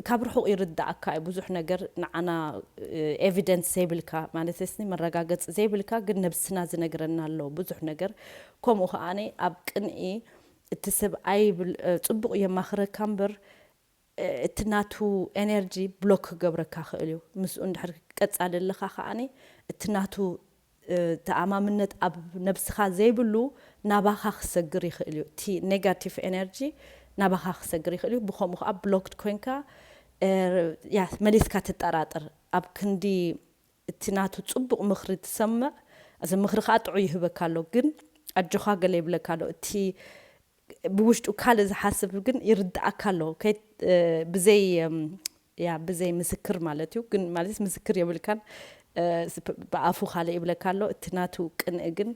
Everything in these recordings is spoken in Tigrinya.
ካብ ርሑቕ ይርድኣካ እዩ ብዙሕ ነገር ንዓና ኤቪደንስ ዘይብልካ ማለተስኒ መረጋገጺ ዘይብልካ ግን ነብስና ዝነግረና ኣሎ ብዙሕ ነገር ከምኡ ከኣ ኣብ ቅንኢ እቲ ሰብኣይ ጽቡቕ የማኽረካ እምበር እቲ ናቱ ኤነርጂ ብሎክ ክገብረካ ክእል እዩ ምስኡ እንድሕር ቀጻሊ ኣለኻ ከኣ እቲ ናቱ ተኣማምነት ኣብ ነብስኻ ዘይብሉ ናባኻ ክሰግር ይኽእል እዩ እቲ ኔጋቲቭ ኤነርጂ ናባኻ ክሰግር ይኽእል እዩ ብኸምኡ ኸኣ ብሎክድ ኮንካ ያስ መሊስካ ትጠራጠር ኣብ ክንዲ እቲ ናቱ ጽቡቕ ምኽሪ ትሰምዕ እዚ ምኽሪ ኸኣ ጥዑይ ይህበካ ኣሎ ግን ኣጆኻ ገለ ይብለካ ኣሎ እቲ ብውሽጡ ካልእ ዝሓስብ ግን ይርድኣካ ኣሎ ብዘይ ያ ብዘይ ምስክር ማለት እዩ ግን ማለት ምስክር የብልካን ብኣፉ ካልእ ይብለካ ኣሎ እቲ ናቱ ቅንኢ ግን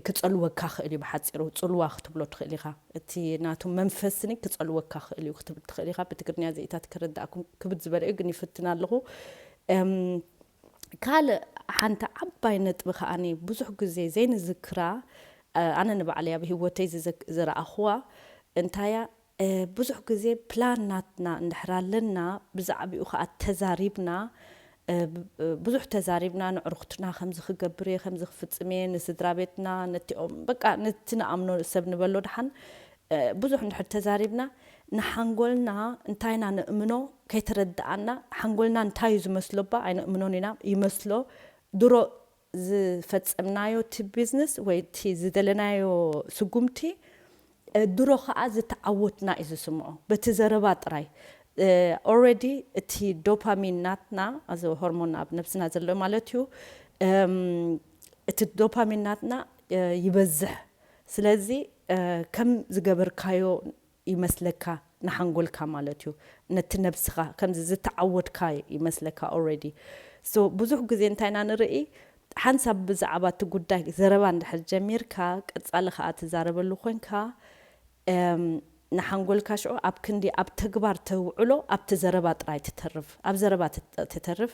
ክጸልወካ ክእል እዩ ብሓጺሩ ጽልዋ ክትብሎ ትኽእል ኢኻ እቲ ናቱ መንፈስኒ ክጸልወካ ክእል እዩ ክትብል ትኽእል ኢኻ ብትግርኛ ዘኢታት ክርድኣኩም ክብድ ዝበለ እዩ ግን ይፍትን ኣለኹ ካልእ ሓንቲ ዓባይ ነጥቢ ከኣ ብዙሕ ግዜ ዘይንዝክራ ኣነ ንባዕለይ ኣብ ሂወተይ ዝረኣክዋ እንታያ ብዙሕ ግዜ ፕላን ናትና እንድሕር ኣለና ብዛዕብኡ ከኣ ተዛሪብና ብዙሕ ተዛሪብና ነዕሩክትና ከምዚ ክገብር እየ ከምዚ ክፍጽም እየ ንስድራቤትና ነቲኦም በቃ ነቲ ንኣምኖ ሰብ ንበሎ ደሓን ብዙሕ እንድሕር ተዛሪብና ንሓንጎልና እንታይ ኢና ንእምኖ ከይተረዳኣና ሓንጎልና እንታይ እዩ ዝመስሎባ ኣይነእምኖን ኢና ይመስሎ ድሮ ዝፈጸምናዮ እቲ ቢዝነስ ወይ እቲ ዝደለናዮ ስጉምቲ ድሮ ከኣ ዝተዓወትና እዩ ዝስምዖ በቲ ዘረባ ጥራይ ኦረዲ እቲ ዶፓሚን ናትና እዚ ሆርሞን ኣብ ነብስና ዘሎ ማለት እዩ እቲ ዶፓሚን ናትና ይበዝሕ ስለዚ ከም ዝገበርካዮ ይመስለካ ንሓንጎልካ ማለት እዩ ነቲ ነብስካ ከምዚ ዝተዓወትካ ይመስለካ ኦረዲ so ብዙሕ ግዜ እንታይ ኢና ንርኢ ሓንሳብ ብዛዕባ እቲ ጉዳይ ዘረባ እንድሕር ጀሚርካ ቀጻሊ ከኣ ትዛረበሉ ኮንካ እም ንሓንጎልካ ሽዑ ኣብ ክንዲ ኣብ ተግባር ተውዕሎ ኣብቲ ዘረባ ጥራይ ትተርፍ ኣብ ዘረባ ትተርፍ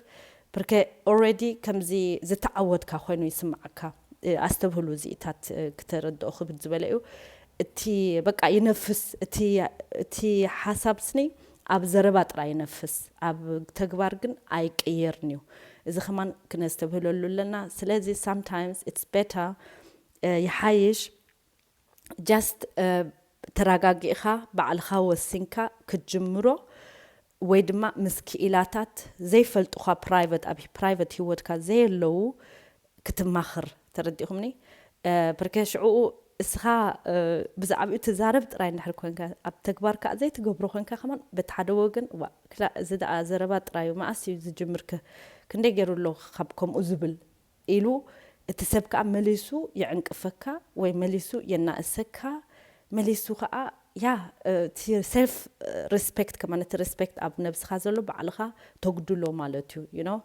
ብርከ ኦረዲ ከምዚ ዝተዓወትካ ኮይኑ ይስምዓካ ኣስተብህሉ እዚኢታት ክተረድኦ ክብድ ዝበለ እዩ እቲ በቃ ይነፍስ እቲ እቲ ሓሳብ ስኒ ኣብ ዘረባ ጥራይ ይነፍስ ኣብ ተግባር ግን ኣይቅየርን እዩ እዚ ከማን ክነስተብህለሉ ኣለና ስለዚ ሳምታይምስ ኢትስ ቤታ ይሓይሽ ጃስት ተራጋጊእኻ ባዕልኻ ወሲንካ ክትጅምሮ ወይ ድማ ምስ ኪኢላታት ዘይፈልጡኻ ፕራይቨት ኣብ ፕራይቨት ሂወትካ ዘየለዉ ክትማኽር ተረዲእኹምኒ ፕርከ ሽዑኡ እስኻ ብዛዕብኡ ትዛረብ ጥራይ እንድሕር ኮንካ ኣብ ተግባር ከኣ ዘይትገብሮ ኮንካ ከማን በቲ ሓደ ወገን እዋእ ክላእ እዚ ደኣ ዘረባ ጥራዩ መኣስ እዩ ዝጅምር ከ ክንደይ ጌሩ ኣሎ ካብ ከምኡ ዝብል ኢሉ እቲ ሰብ ከኣ መሊሱ ይዕንቅፈካ ወይ መሊሱ የናእሰካ መሊሱ ከኣ ያህ እቲ self respect ከማን እቲ respect ኣብ ነብስኻ ዘሎ ባዕልኻ ተጉድሎ ማለት እዩ you know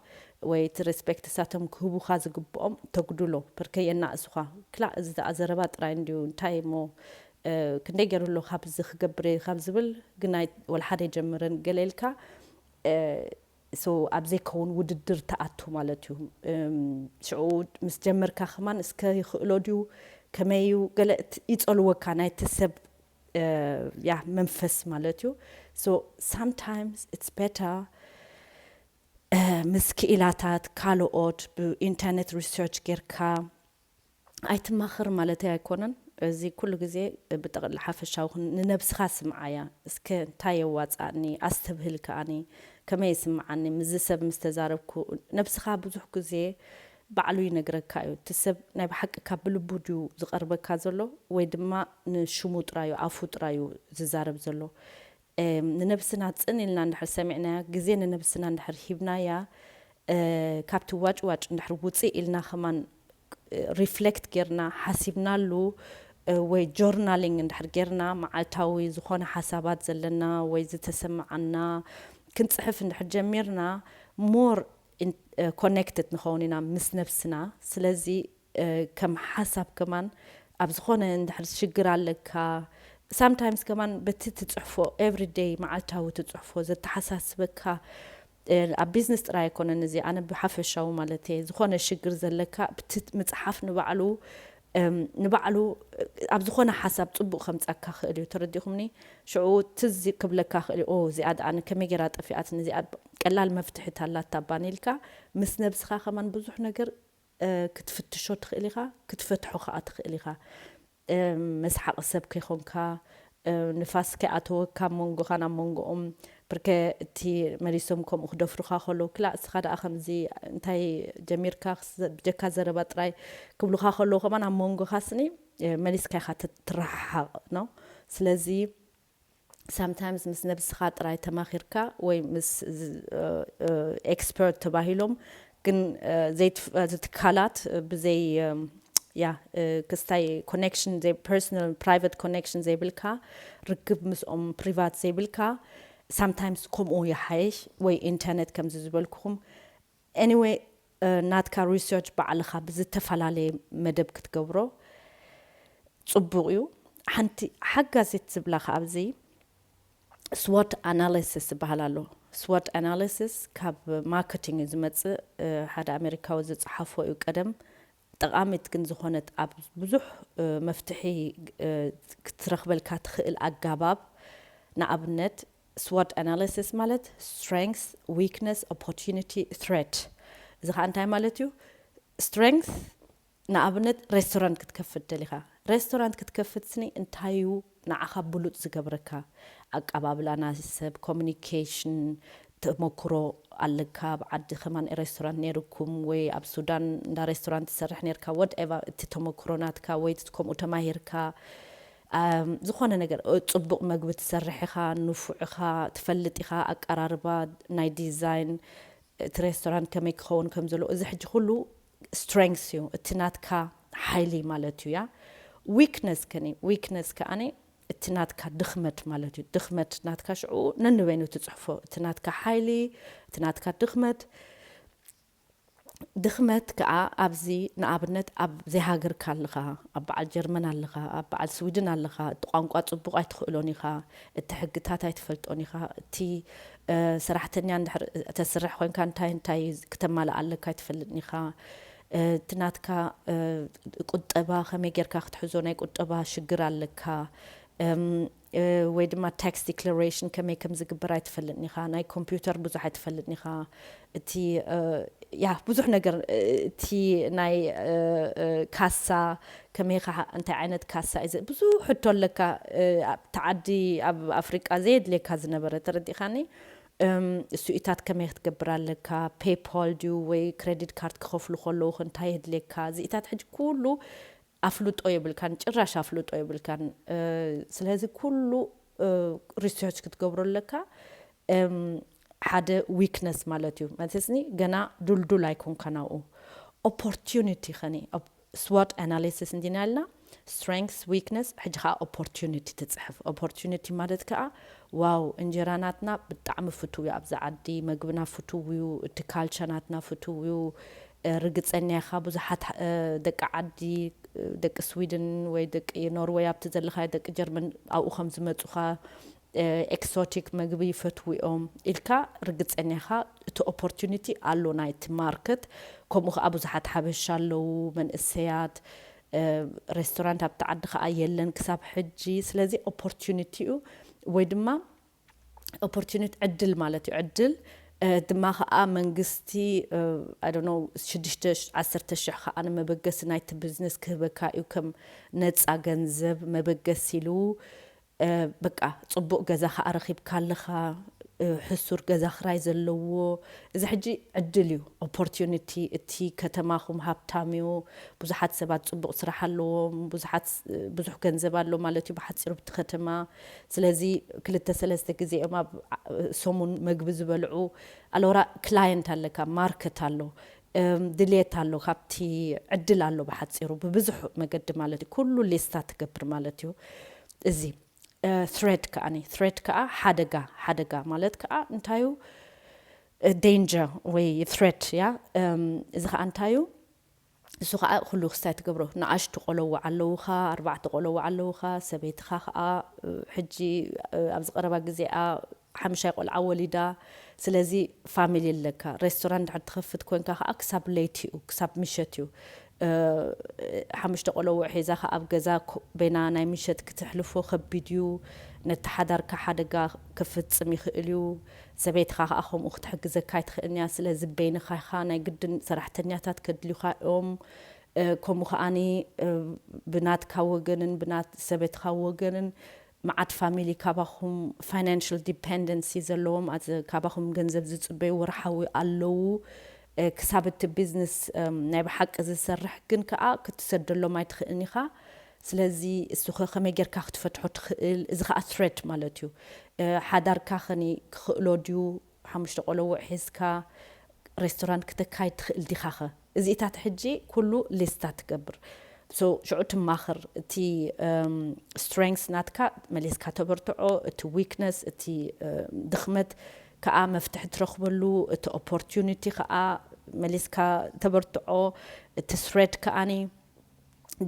ወይ እቲ respect ንሳቶም ክህቡኻ ዝግብኦም ተጉድሎ ፐርከ የናእሱኻ ክላእ እዚ ደኣ ዘረባ ጥራይ እንድዩ እንታይ እሞ ክንደይ ጌሩ ኣሎ ካብዚ ክገብር እየ ካብ ዝብል ግን ኣይ ወላ ሓደ ኣይጀምርን ገለ ኢልካ so ኣብ ዘይከውን ውድድር ትኣቱ ማለት እዩ ሽዑ ምስ ጀመርካ ከማን እስከ ይክእሎ ድዩ ከመይ እዩ ገለ ይጸልወካ ናይቲ ሰብ ያህ መንፈስ ማለት እዩ so sometimes it's better ምስ ክኢላታት ካልኦት ብኢንተርነት research ጌርካ ኣይትማኸር ማለተይ ኣይኮነን እዚ ኩሉ ግዜ ብጠቅሊ ሓፈሻዊ ኩን ንነብስኻ ስምዓያ እስከ እንታይ የዋጽኣኒ ኣስተብህል ከኣኒ ከመይ ይስምዓኒ ምስዚ ሰብ ምስ ተዛረብኩ ነብስኻ ብዙሕ ግዜ ባዕሉ ይነግረካ እዩ እቲ ሰብ ናይ ብሓቂ ካብ ብልቡ ድዩ ዝቀርበካ ዘሎ ወይ ድማ ንሽሙ ጥራዩ ኣፉ ጥራዩ ዝዛረብ ዘሎ ንነብስና ጽን ኢልና እንድሕር ሰሚዕናያ፣ ግዜ ንነብስና እንድሕር ሂብናያ፣ ካብቲ ዋጭዋጭ እንድሕር ውጽእ ኢልና ከማን ሪፍለክት ጌርና ሓሲብናሉ ወይ ጆርናሊንግ እንድሕር ጌርና መዓልታዊ ዝኾነ ሓሳባት ዘለና ወይ ዝተሰመዓና ክንጽሕፍ እንድሕር ጀሚርና ሞር ኮነክትድ ንኸውን ኢና ምስ ነብስና ስለዚ ከም ሓሳብ ከማን ኣብ ዝኾነ እንድሕር ሽግር ኣለካ ሳምታይምስ ከማን በቲ ትጽሕፎ ኤቭሪ ደይ መዓልታዊ ትጽሕፎ ዘተሓሳስበካ ኣብ ቢዝነስ ጥራይ ኣይኮነን እዚ ኣነ ብሓፈሻዊ ማለት እየ ዝኾነ ሽግር ዘለካ ብቲ ምጽሓፍ ንባዕሉ ንባዕሉ ኣብ ዝኾነ ሓሳብ ጽቡቕ ከምጻካ ክእል እዩ ተረዲኹምኒ ሽዑ ትዝ ክብለካ ክእል እዩ ኦ እዚኣ ደኣ ከመይ ጌራ ጠፊኣትኒ እዚኣ ቀላል መፍትሒት ኣላታ ባኒ ኢልካ ምስ ነብስኻ ከማን ብዙሕ ነገር ክትፍትሾ ትኽእል ኢኻ ክትፈትሖ ከኣ ትኽእል ኢኻ መስሓቒ ሰብ ከይኮንካ ንፋስ ከይኣተወካ ኣብ መንጎኻን ኣብ መንጎኦም ብርከ እቲ መሊሶም ከምኡ ክደፍሩኻ ከለዉ ክላእ እስኻ ደኣ ከምዚ እንታይ ጀሚርካ ብጀካ ዘረባ ጥራይ ክብሉኻ ከለዉ ከማን ኣብ መንጎኻ ስኒ መሊስካ ኢኻ ትረሓሓቕ ነው ስለዚ ሳምታይምስ ምስ ነብስኻ ጥራይ ተማኺርካ ወይ ምስ ኤክስፐርት ተባሂሎም ግን ዘይትፍቐዱ ትካላት ብዘይ ያ ክስታይ ኮኔክሽን ዘይ ፐርሰናል ፕራይቨት ኮኔክሽን ዘይብልካ ርክብ ምስኦም ፕሪቫት ዘይብልካ ሳምታይምስ ከምኡ ይሓይሽ ወይ ኢንተርነት ከምዚ ዝበልኩኹም Anyway ናትካ research ባዕልኻ ብዝተፈላለየ መደብ ክትገብሮ ጽቡቕ እዩ። ሓንቲ ሓጋዚት ዝብላ ከኣ ኣብዚ SWOT analysis ዝበሃል ኣሎ። SWOT analysis ካብ ማርኬቲንግ እዩ ዝመጽእ። ሓደ ኣሜሪካዊ ዝጸሓፎ እዩ ቀደም ጠቓሚት ግን ዝኾነት ኣብ ብዙሕ መፍትሒ ክትረኽበልካ ትኽእል ኣጋባብ ንኣብነት ስዎት ኣናሊሲስ ማለት ስትረንግስ ዊክነስ ኦፖርቲኒቲ ትሬት እዚ ኸኣ እንታይ ማለት እዩ ስትረንግስ ንኣብነት ሬስቶራንት ክትከፍት ደሊኻ ሬስቶራንት ክትከፍትስኒ እንታይ እዩ ንዓኻ ብሉጽ ዝገብረካ ኣቃባብላ ናዝ ሰብ ኮሙኒኬሽን ተሞኩሮ ኣለካ ኣብ ዓዲ ከማን ረስቶራንት ነይሩኩም ወይ ኣብ ሱዳን እንዳ ረስቶራንት ትሰርሕ ነርካ ወድ ኤቫ እቲ ተሞኩሮ ናትካ ወይ ከምኡ ተማሂርካ ኣም ዝኾነ ነገር ጽቡቕ መግቢ ትሰርሕ ኢኻ ንፉዕ ኢኻ ትፈልጥ ኢኻ ኣቃራርባ ናይ ዲዛይን እቲ ረስቶራንት ከመይ ክኸውን ከም ዘለዎ እዚ ሕጂ ኩሉ Strength እዩ እቲ ናትካ ሓይሊ ማለት እዩ እያ Weakness ከኒ Weakness ከኣኒ እቲ ናትካ ድኽመት ማለት እዩ ድኽመት ናትካ ሽዑ ነንበይኑ ትጽሕፎ እቲ ናትካ ሓይሊ እቲ ናትካ ድኽመት ድኽመት ከኣ ኣብዚ ንኣብነት ኣብ ዘይሃገርካ ኣለኻ ኣብ በዓል ጀርመን ኣለኻ ኣብ በዓል ስዊድን ኣለኻ እቲ ቋንቋ ጽቡቕ ኣይትኽእሎን ኢኻ እቲ ሕግታት ኣይትፈልጦን ኢኻ እቲ ሰራሕተኛ እንድሕር ተስርሕ ኮንካ እንታይ እንታይ ክተማልእ ኣለካ ኣይትፈልጥን ኢኻ እቲ ናትካ ቁጠባ ከመይ ጌርካ ክትሕዞ ናይ ቁጠባ ሽግር ኣለካ ወይ ድማ ታክስ ዲክለሬሽን ከመይ ከም ዝግበር ኣይትፈልጥን ኢኻ ናይ ኮምፒውተር ብዙሕ ኣይትፈልጥን ኢኻ እቲ ያ ብዙሕ ነገር እቲ ናይ ካሳ ከመይ ካዓ እንታይ ዓይነት ካሳ እዩ ዘ ብዙሕ ሕቶ ኣለካ ኣብቲ ዓዲ ኣብ ኣፍሪቃ ዘየድልየካ ዝነበረ ተረዲእካኒ እም እሱኢታት ከመይ ክትገብር ኣለካ ፔፓል ድዩ ወይ ክረዲድ ካርድ ክከፍሉ ከለዉ ከ እንታይ የድልየካ እዚኢታት ሕጂ ኩሉ ኣፍልጦ የብልካን ጭራሽ ኣፍልጦ የብልካን ስለዚ ኩሉ ሪሰርች ክትገብሮ ኣለካ እም ሓደ ዊክነስ ማለት እዩ ማለትስኒ ገና ዱልዱል ኣይኮንካን ኣብኡ ኦፖርቲዩኒቲ ከኒ ስዎት ኣናሊሲስ እንዲና ኢልና ስትረንግስ ዊክነስ ሕጂ ከኣ ኦፖርቲዩኒቲ ትጽሕፍ ኦፖርቲዩኒቲ ማለት ከኣ ዋው እንጀራ ናትና ብጣዕሚ ፍቱው ዩ ኣብዚ ዓዲ መግብና ፍቱው ዩ እቲ ካልቸ ናትና ፍቱው ዩ ርግጸኛ ኢኻ ብዙሓት ደቂ ዓዲ ደቂ ስዊድን ወይ ደቂ ኖርወይ ኣብቲ ዘለኻዮ ደቂ ጀርመን ኣብኡ ከም ዝመጹኻ ኤክሶቲክ መግቢ ይፈትዉ እዮም ኢልካ ርግጸኛ ኢኻ እቲ ኦፖርቲኒቲ ኣሎ ናይቲ ማርክት ከምኡ ከኣ ብዙሓት ሓበሻ ኣለዉ መንእሰያት ሬስቶራንት ኣብቲ ዓዲ ከኣ የለን ክሳብ ሕጂ ስለዚ ኦፖርቲኒቲ እዩ ወይ ድማ ኦፖርቲኒቲ ዕድል ማለት እዩ ዕድል ድማ ከኣ መንግስቲ ኣዶኖ ሽዱሽተ ዓሰርተ ሽሕ ከኣ ንመበገሲ ናይቲ ቢዝነስ ክህበካ እዩ ከም ነጻ ገንዘብ መበገሲ ኢሉ በቃ ጽቡቅ ገዛ ከኣ ረኪብካ ኣለካ ሕሱር ገዛ ክራይ ዘለዎ እዚ ሕጂ ዕድል እዩ ኦፖርቲዩኒቲ እቲ ከተማኩም ሃብታም እዩ ብዙሓት ሰባት ጽቡቅ ስራሕ ኣለዎም ብዙሓት ብዙሕ ገንዘብ ኣሎ ማለት እዩ ብሓጺሩ ብቲ ከተማ ስለዚ ክልተ ሰለስተ ግዜ እዮም ኣብ ሰሙን መግቢ ዝበልዑ ኣሎራ ክላየንት ኣለካ ማርከት ኣሎ ድልየት ኣሎ ካብቲ ዕድል ኣሎ ብሓጺሩ ብብዙሕ መገዲ ማለት እዩ ኩሉ ሊስታ ትገብር ማለት እዩ እዚ thread ከኣ thread ከኣ ሓደጋ ሓደጋ ማለት ከኣ እንታይ እዩ danger ወይ threat ያ እዚ ከኣ እንታይ እዩ እሱ ከዓ ኩሉ ክስታይ ትገብሮ ንኣሽቱ ቆለዎ ኣለውኻ ኣርባዕተ ቆለዎ ኣለውኻ ሰበይትኻ ከዓ ሕጂ ኣብዚ ቀረባ ግዜኣ ሓምሻይ ቆልዓ ወሊዳ ስለዚ ፋሚሊ ኣለካ ሬስቶራንት እንድሕር ትከፍት ኮንካ ከኣ ክሳብ ለይቲ እዩ ክሳብ ምሸት እዩ ሓሙሽተ ቆሎዉዕ ሒዛ ከኣ ኣብ ገዛ ቤና ናይ ምሸት ክትሕልፎ ከቢድ እዩ ነቲ ሓዳርካ ሓደጋ ከፍጽም ይክእል እዩ ሰበይትካ ከኣ ከምኡ ክትሕግዘካ ኣይትክእልን እያ ስለዚ በይንካ ኢካ ናይ ግድን ሰራሕተኛታት ከድልዩካ እዮም ከምኡ ከኣ ብናትካ ወገንን ብናት ሰበትካ ወገንን መዓት ፋሚሊ ካባኹም ፋይናንሽል ዲፐንደንሲ ዘለዎም ኣዚ ካባኹም ገንዘብ ዝጽበዩ ወርሓዊ ኣለዉ ክሳብ እቲ ቢዝነስ ናይ ብሓቂ ዝሰርሕ ግን ከኣ ክትሰደሎም ኣይትኽእልን ኢኻ ስለዚ እሱኸ ከመይ ጌርካ ክትፈትሖ ትኽእል እዚ ከኣ ትሬት ማለት እዩ ሓዳርካ ከኒ ክኽእሎ ድዩ ሓሙሽተ ቆሎዉዕ ሒዝካ ሬስቶራንት ክተካይድ ትክእል ዲካከ እዚኢታት ሕጂ ኩሉ ሊስታ ትገብር so ሽዑ ትማክር እቲ strengths ናትካ መሊስካ ተበርትዖ እቲ weakness እቲ ድክመት ካኣ መፍትሒ ትረክበሉ እቲ opportunity ካኣ መሊስካ ተበርትዖ እቲ threat ካኣ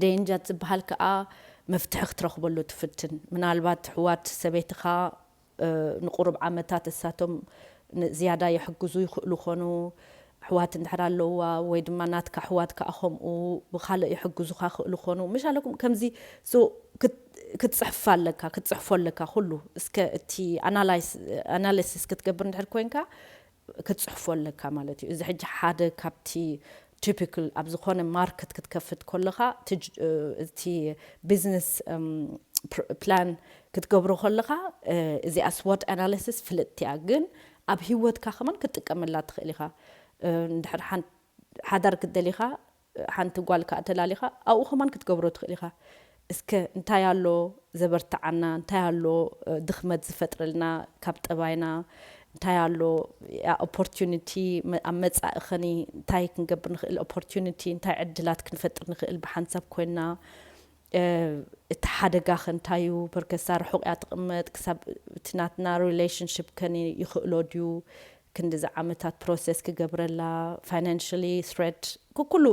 danger ዝባሃል ካኣ መፍትሒ ክትረክበሉ ትፍትን ምናልባት ኣሕዋት ሰበይትካ ንቁሩብ ዓመታት እሳቶም ንዝያዳ የሕግዙ ይኽእሉ ኮኑ፣ ኣሕዋት እንድሕር ኣለዉዋ ወይ ድማ ናትካ ኣሕዋት ካኣ ከምኡ ብካልእ የሕግዙኻ ይኽእሉ ኮኑ ምሻለኩም ከምዚ so ክትጽሕፍ ኣለካ ክትጽሕፎ ኣለካ ኩሉ እስከ እቲ ኣናላይስ ኣናለሲስ ክትገብር እንድሕር ኮንካ ክትጽሕፎ ኣለካ ማለት እዩ። እዚ ሕጂ ሓደ ካብቲ ቲፒክል ኣብ ዝኾነ ማርክት ክትከፍት ኮለኻ እቲ ቢዝነስ ፕላን ክትገብሮ ኮለኻ እዚኣ ስዎት ኣናሊሲስ ፍልጥቲ እያ ግን ኣብ ሂወትካ ከማን ክትጥቀመላ ትኽእል ኢኻ እንድሕር ሓዳር ክትደሊ ኢኻ ሓንቲ ጓል ከኣ ተላሊኻ ኣብኡ ከማን ክትገብሮ ትኽእል ኢኻ እስከ እንታይ ኣሎ ዘበርትዓና እንታይ ኣሎ ድኽመት ዝፈጥረልና ካብ ጠባይና እንታይ ኣሎ ኦፖርቲዩኒቲ ኣብ መጻኢ ኸኒ እንታይ ክንገብር ንኽእል ኦፖርቲዩኒቲ እንታይ ዕድላት ክንፈጥር ንኽእል ብሓንሳብ ኮይንና እቲ ሓደጋኸ እንታይ እዩ? ፐርከሳ ርሑቕ እያ ትቕመጥ፣ ክሳብ እቲ ናትና ሪሌሽንሺፕ ከ ይኽእሎ ድዩ ክንድዚ ዓመታት ፕሮሰስ ክገብረላ? ፋይናንሽሊ ስሬት ኩኩሉ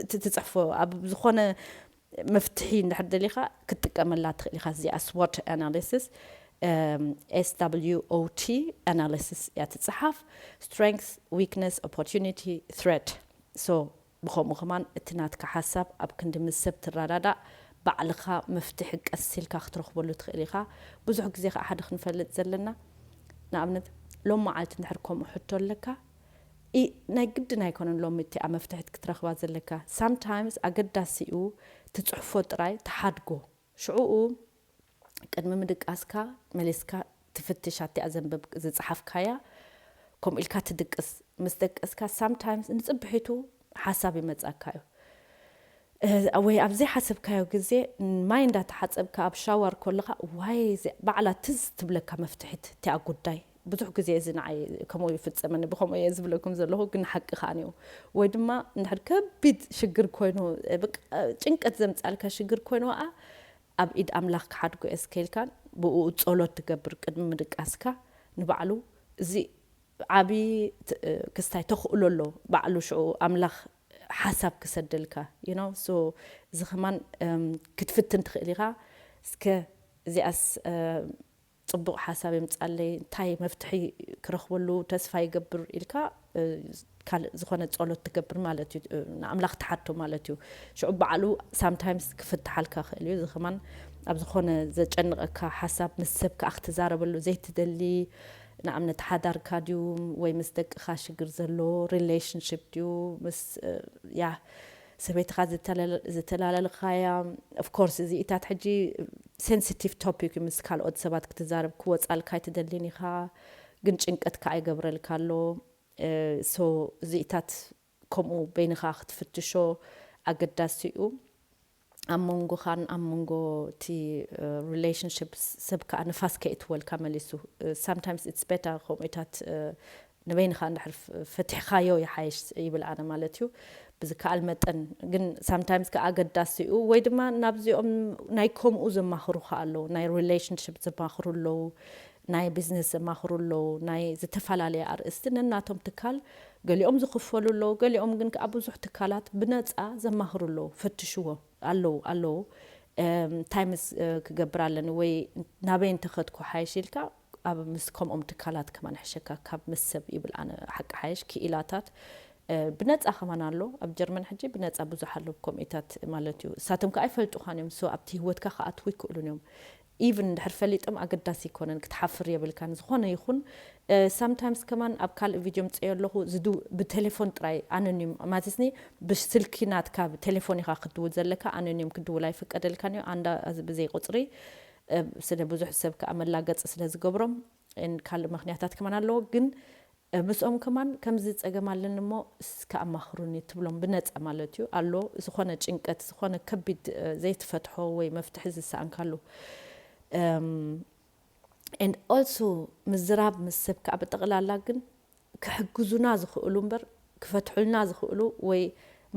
እቲ ትጽሕፎ ኣብ ዝኾነ መፍትሒ እንድሕር ደሊኻ ክትጥቀመላ ትኽእል ኢኻ። እዚኣ ስዎት ኣናሊሲስ፣ SWOT፣ ኣናሊሲስ እያ ትጽሓፍ፣ ስትሬንግዝ፣ ዊክነስ፣ ኦፖርቹኒቲ፣ ትሬት። ሶ ብኸምኡ ከማን እቲ ናትካ ሓሳብ ኣብ ክንዲ ምስ ሰብ ትረዳዳእ ባዕልኻ መፍትሒ ቀስ ኢልካ ክትረኽበሉ ትኽእል ኢኻ። ብዙሕ ግዜ ከኣ ሓደ ክንፈልጥ ዘለና ንኣብነት ሎምዓልቲ እንድሕር ከምኡ ሕቶ ኣለካ ናይ ግድን ኣይኮነን ሎሚ እቲኣ መፍትሒት ክትረኽባ ዘለካ ሳምታይምስ ኣገዳሲኡ ትጽሕፎ ጥራይ ትሓድጎ ሽዑኡ ቅድሚ ምድቃስካ መሊስካ ትፍትሽ ኣቲኣ ዘንብብ ዝጸሓፍካያ ከምኡ ኢልካ ትድቅስ ምስ ደቀስካ ሳምታይምስ ንጽብሒቱ ሓሳብ ይመጻካ እዩ ወይ ኣብ ዘይሓሰብካዮ ግዜ ማይ እንዳ ተሓጸብካ ኣብ ሻዋር ኮለኻ ዋይ እዚኣ ባዕላ ትዝ ትብለካ መፍትሒት እቲኣ ጉዳይ ብዙሕ ግዜ እዚ ንዓይ ከምኡ ይፍጸመኒ ብከምኡ እየ ዝብለኩም ዘለኹ ግን ሓቂ ከኣ እዩ ወይ ድማ እንድሕር ከቢድ ሽግር ኮይኑ ጭንቀት ዘምጻልካ ሽግር ኮይኑ ኣ ኣብ ኢድ ኣምላኽ ክሓድጎ እየ እስከ ኢልካ ብእኡ ጸሎት ትገብር ቅድሚ ምድቃስካ ንባዕሉ እዚ ዓቢ ክስታይ ተኽእሎ ኣሎ ባዕሉ ሽዑ ኣምላኽ ሓሳብ ክሰደልካ you know so እዚ ከማን ክትፍትን ትኽእል ኢኻ እስከ እዚኣስ ጽቡቅ ሓሳብ የምጻለይ እንታይ መፍትሒ ክረክበሉ ተስፋ ይገብር ኢልካ ካልእ ዝኮነ ጸሎት ትገብር ማለት እዩ ንኣምላክ ትሓቶ ማለት እዩ ሽዑ ባዕሉ ሳምታይምስ ክፍትሓልካ ይክእል እዩ እዚ ከማን ኣብ ዝኮነ ዘጨንቀካ ሓሳብ ምስ ሰብ ከኣ ክትዛረበሉ ዘይትደሊ ንኣብነት ሓዳርካ ድዩ ወይ ምስ ደቅካ ሽግር ዘሎ ሪለሽንሽፕ ድዩ ምስ ያህ ሰበይትኻ ዘተላለልኻያ of course እዚኢታት ሕጂ sensitive topic እዩ ምስ ካልኦት ሰባት ክትዛረብ ክወጻልካ ኣይትደሊን ኢኻ ግን ጭንቀት ከኣ ይገብረልካ ኣሎ so እዚኢታት ከምኡ በይንኻ ክትፍትሾ ኣገዳሲ እዩ ኣብ መንጎኻን ኣብ መንጎ እቲ relationship ሰብ ከኣ ንፋስ ከይእትወልካ መሊሱ sometimes it's better ከምኡኢታት ንበይንኻ እንድሕር ፈቲሕኻዮ ይሓይሽ ይብል ኣነ ማለት እዩ ብዝከኣል መጠን ግን ሳምታይምስ ከኣ ኣገዳሲ እዩ ወይ ድማ ናብዚኦም ናይ ከምኡ ዘማኽሩኻ ኣለዉ ናይ ሪሌሽንሽፕ ዘማኽሩ ኣለዉ ናይ ቢዝነስ ዘማኽሩ ኣለዉ ናይ ዝተፈላለየ ኣርእስቲ ነናቶም ትካል ገሊኦም ዝኽፈሉ ኣለዉ ገሊኦም ግን ከኣ ብዙሕ ትካላት ብነጻ ዘማኽሩ ኣለዉ ፈትሽዎ ኣለዉ ኣለዉ እንታይ ምስ ክገብር ኣለኒ ወይ ናበይ እንተኸድኩ ሓይሽ ኢልካ ኣብ ምስ ከምኦም ትካላት ከማን ሕሸካ ካብ ምስ ሰብ ይብል ኣነ ሓቂ ሓየሽ ክኢላታት ብነጻ ከማን ኣሎ ኣብ ጀርመን ሕጂ ብነጻ ብዙሕ ኣሎ ኮሚኢታት ማለት እዩ እሳቶም ከኣ ይፈልጡኻን እዮም ሶ ኣብቲ ህወትካ ከኣትዉ ይክእሉን እዮም ኢቭን እንድሕር ፈሊጦም ኣገዳሲ ኣይኮነን ክትሓፍር የብልካን ዝኾነ ይኹን ሳምታይምስ ከማን ኣብ ካልእ ቪድዮ ምጽዮ ኣለኹ ዝዱ ብቴሌፎን ጥራይ ኣኖኒም ማለትኒ ብስልኪ ናትካ ብቴሌፎን ኢኻ ክትድውል ዘለካ ኣኖኒም ክትድውል ኣይፍቀደልካን እዩ ኣንዳ ብዘይ ቁጽሪ ስለ ብዙሕ ሰብ ከኣ መላገጺ ስለ ዝገብሮም ን ካልእ ምክንያታት ከማን ኣለዎ ግን ምስኦም ከማን ከምዚ ጸገም ኣለኒ እሞ እስከ ኣማክሩኒ ትብሎም ብነጻ ማለት እዩ ኣሎ ዝኮነ ጭንቀት ዝኮነ ከቢድ ዘይትፈትሖ ወይ መፍትሒ ዝሰኣንካሉ ን ኦልሶ ምዝራብ ምስ ሰብ ከኣ ብጠቅላላ ግን ክሕግዙና ዝክእሉ እምበር ክፈትሑልና ዝክእሉ ወይ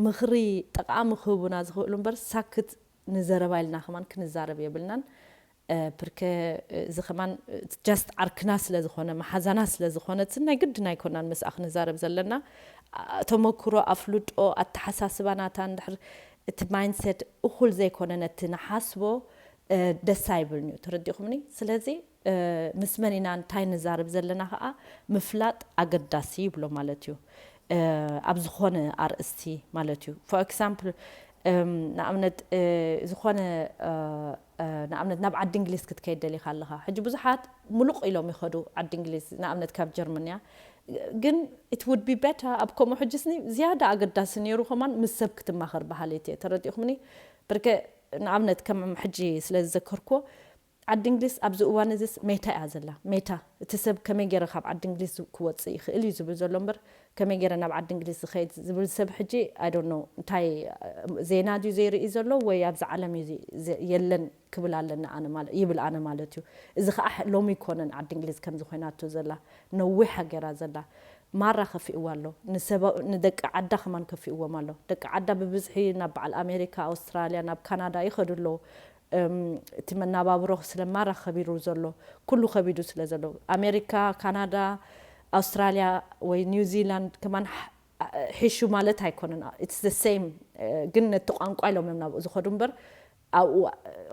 ምክሪ ጠቃሚ ክህቡና ዝክእሉ እምበር ሳክት ንዘረባ ኢልና ከማን ክንዛረብ የብልናን ፕርከ እዚ ከማን ጃስት ዓርክና ስለ ዝኮነ መሓዛና ስለ ዝኮነትን ናይ ግድን ኣይኮናን ምስኣ ክንዛረብ ዘለና ተመኩሮ ኣፍልጦ ኣተሓሳስባ ናታ እንድሕር እቲ ማይንሴት እኩል ዘይኮነ ነቲ ንሓስቦ ደስ ኣይብልንዩ ተረዲኩምኒ ስለዚ ምስ መን ኢና እንታይ ንዛረብ ዘለና ከኣ ምፍላጥ ኣገዳሲ ይብሎ ማለት እዩ ኣብ ዝኾነ ኣርእስቲ ማለት እዩ for example ንኣብነት ዝኾነ ንኣብነት ናብ ዓዲ እንግሊዝ ክትከይድ ደሊኻ ኣለኻ ሕጂ ብዙሓት ሙሉቕ ኢሎም ይኸዱ ዓዲ እንግሊዝ ንኣብነት ካብ ጀርመን እያ ግን it would be better ኣብ ከምኡ ሕጂስኒ ዝያዳ ኣገዳሲ ነይሩ ከማን ምስ ሰብ ክትማኸር በሃሊት እየ ተረዲእኹምኒ ብርከ ንኣብነት ከም ሕጂ ስለ ዝዘከርኩዎ ዓዲ እንግሊዝ ኣብዚ እዋን እዚስ ሜታ እያ ዘላ። ሜታ፣ እቲ ሰብ ከመይ ገይረ ካብ ዓዲ እንግሊዝ ክወጽእ ይኽእል እዩ ዝብል ዘሎ እምበር ከመይ ገይረ ናብ ዓዲ እንግሊዝ ዝኸይድ ዝብል ሰብ ሕጂ ኣይ ዶንት ኖው እንታይ ዜና ድዩ ዘይርኢ ዘሎ ወይ ኣብዛ ዓለም እዩ የለን ክብል ኣለኒ ኣነ ማለት ይብል ኣነ ማለት እዩ። እዚ ከኣ ሎሚ ኣይኮነን ዓዲ እንግሊዝ ከምዚ ኮይናቶ ዘላ ነዊሕ ገይራ ዘላ። ማራ ከፊእዋ ኣሎ ንሰብ ንደቂ ዓዳ ከማን ከፊእዎም ኣሎ። ደቂ ዓዳ ብብዝሒ ናብ በዓል ኣሜሪካ፣ ኣውስትራልያ፣ ናብ ካናዳ ይኸዱ ኣለዉ። እቲ መናባብሮ ስለ ማራ ከቢሩ ዘሎ ኩሉ ከቢዱ ስለ ዘሎ ኣሜሪካ ካናዳ ኣውስትራልያ ወይ ኒውዚላንድ ከማን ሒሹ ማለት ኣይኮነን ኢትስ ዘ ሰይም ግን ነቲ ቋንቋ ኢሎም እዮም ናብኡ ዝኸዱ እምበር ኣብኡ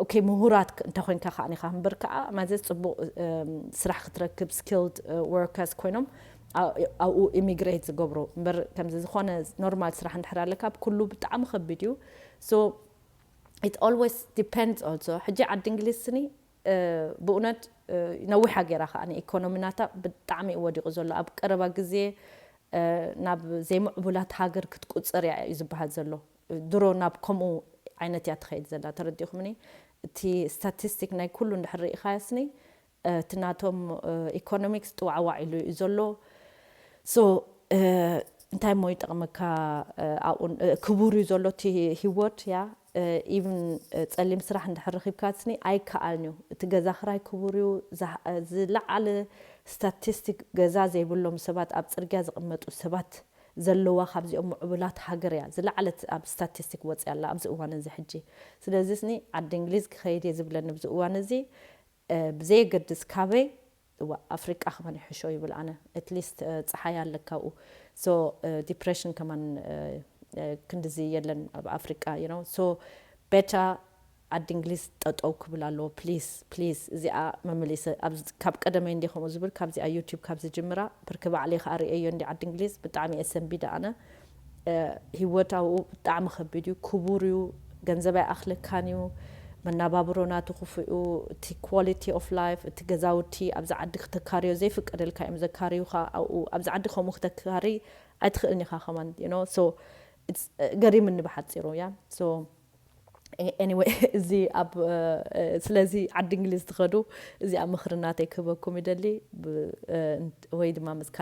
ኦኬ ምሁራት እንተኮይንካ ከኣ ኢኻ እምበር ከኣ ማዘ ጽቡቕ ስራሕ ክትረክብ ስኪልድ ወርከርስ ኮይኖም ኣብኡ ኢሚግሬት ዝገብሩ እምበር ከምዚ ዝኾነ ኖርማል ስራሕ እንድሕር ኣለካ ኩሉ ብጣዕሚ ከቢድ እዩ ሶ it always depends also ሕጂ ዓዲ እንግሊዝ ስኒ ብኡነት ነዊሓ ጌራ ከኣ ኢኮኖሚ ናታ ብጣዕሚ እዩ ወዲቁ ዘሎ ኣብ ቀረባ ግዜ ናብ ዘይምዕቡላት ሃገር ክትቁጽር እያ እዩ ዝበሃል ዘሎ ድሮ ናብ ከምኡ ዓይነት እያ ትኸይድ ዘላ ተረዲኹምኒ እቲ ስታቲስቲክ ናይ ኩሉ እንድሕር ርኢኻዮ ስኒ እቲ ናቶም ኢኮኖሚክስ ጥዋዕዋዕ ኢሉ እዩ ዘሎ so እንታይ እሞ ይጠቅመካ ኣብኡ ክቡር እዩ ዘሎ እቲ ሂወት ያ even ጸሊም ስራሕ እንድሕር ረኺብካ ስኒ ኣይከኣልን እዩ እቲ ገዛ ክራይ ክቡር እዩ ዝለዓለ ስታቲስቲክ ገዛ ዘይብሎም ሰባት ኣብ ጽርግያ ዝቅመጡ ሰባት ዘለዋ ካብዚኦም ሙዑቡላት ሃገር እያ ዝለዓለት ኣብ ስታቲስቲክ ወጽያ ኣላ ኣብዚ እዋን እዚ ሕጂ ስለዚ ስኒ ዓዲ እንግሊዝ ክኸይድ እየ ዝብለኒ ኣብዚ እዋን እዚ ብዘየገድስ ካበይ እዋእ ኣፍሪቃ ከማን ይሕሾ ይብል ኣነ ኣትሊስት ጸሓይ ኣለ ካብኡ so ዲፕረሽን ከማን ክንድዚ የለን ኣብ ኣፍሪቃ you know so ቤታ ዓዲ እንግሊዝ ጠጠው ክብል ኣለዎ ፕሊስ ፕሊስ እዚኣ መመሊሰ ካብ ቀደመይ እንዲ ከምኡ ዝብል ካብዚኣ ዩቱብ ካብ ዝጅምራ ብርክ ባዕለይ ከኣ ርእየዮ እንዲ ዓዲ እንግሊዝ ብጣዕሚ እየ ሰንቢደ ኣነ ሂወት ኣብኡ ብጣዕሚ ከቢድ እዩ ክቡር እዩ ገንዘብ ኣይኣኽለካን እዩ መናባብሮ ናቱ ክፉእ እዩ እቲ ኳሊቲ ኦፍ ላይፍ እቲ ገዛውቲ ኣብዚ ዓዲ ክተካርዮ ዘይፍቀደልካ እዮም ዘካርዩኻ ኣብኡ ኣብዚ ዓዲ ከምኡ ክተካርይ ኣይትኽእልን ኢኻ ከማን ዩ ኖው ሶ ገሪምኒ ብሓጺሩ ያ ሶ anyway እዚ ኣብ ስለዚ ዓዲ እንግሊዝ ትኸዱ እዚኣ ምኽሪ ናተይ ክህበኩም ይደሊ ወይ ድማ ምስ